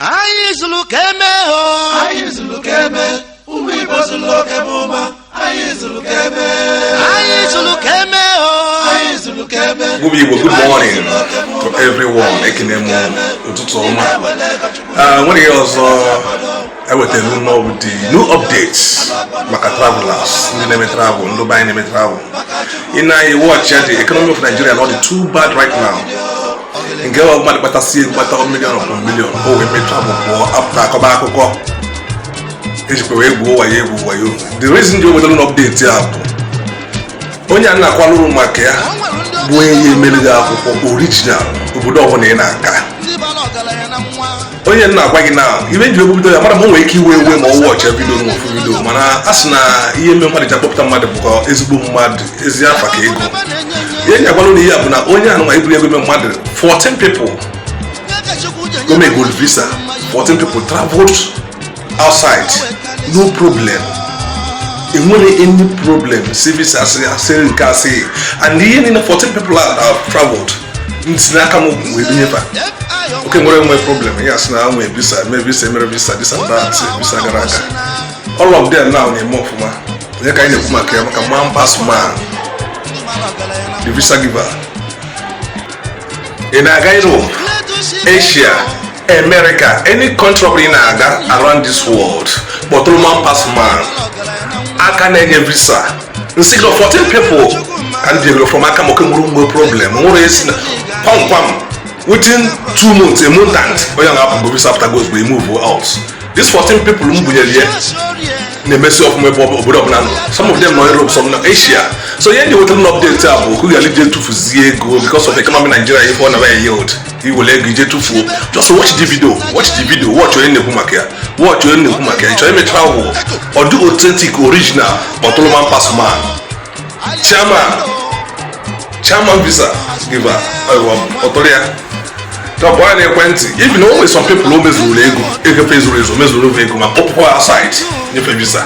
anyị zuru ka eme o anyị zuru ka eme ụmụ Igbo zuru ka eme ụma anyị zuru ka eme anyị zuru ka eme o anyị zuru ka eme Good evening, good morning to everyone. Ekene m ụtụtụ ọma. Ah, nwere ihe ọzọ ewetara unu ọ bụ the new updates maka travelers ndị na-eme travel ndị be anyị na-eme travel. Ị na-eyi watch ya the economy of Nigeria na ọ dị too bad right now. nke ọ mmadụ kpatasịa ego kpata million upon million o wee mee travel pụọ apụta akọba akụkọ ejikwa wee gwuo wayo egwu wayo the reason m ji wetara unu update a bụ onye a m na-akọwalụ unu maka ya bụ onye ya-emere gị akwụkwọ original obodo ọbụla ị na-aga onye m na-agwa gị na ebe m ji ebu video ya mara ma o nwere ike iwe iwe ma ọ watchịa video na ọ fụ video mana a sị na ihe mere mmadụ ji akpọpụta mmadụ bụkwa ezigbo mmadụ ezi afa ka ego ihe m ji agwalụ unu ihe a bụ na onye a nụnwa ebunyego m ya mmadụ 14 people ka o megolu visa 14 people traveled outside no problem enwerọ any problem service asịrị nke asịghị and ihe niile 14 people a traveled site n'aka m wee bunye ba o nwerọ enwe problem ya sị na nwee visa mee visa mere visa this and that visa gara aga all of them now na-eme ọfụma onye ka anyị na-ekwu maka ya maka man pass man the visa giver ị na-aga Europe Asia America, any country ọbụla ị na-aga around this world kpọtụrụ man pass man aka na-enye visa m sị gị 14 people ka ndị ego from aka maka nwere mgbe problem nwere esi na kwamkwam within two months a month and onye na-apụgo visa after goes we move out these 14 people m bunyere ya na-emesi ọfụma ebe obodo ọbụla nọ some of them nọ Europe some nọ Asia so ihe m ji wetara unu update a bụ ka ị ghara ije tufuzie ego because of economy Nigeria ihe ọ na-aba yield i were ego i jee tufuo just watch the video watch the video watch onye na-ekwu maka ya watch onye na-ekwu maka ya ị chọọ ime travel ọ dị authentic original kpọtụlụ man pass man chairman chairman visa giver kpọtụrụ ya kpọọ ya n'ekwentị even o nwere some people o mezuru ego ego fa ezurọ ezu mezuru ego ma kpọpụkwa fa outside nye fa visa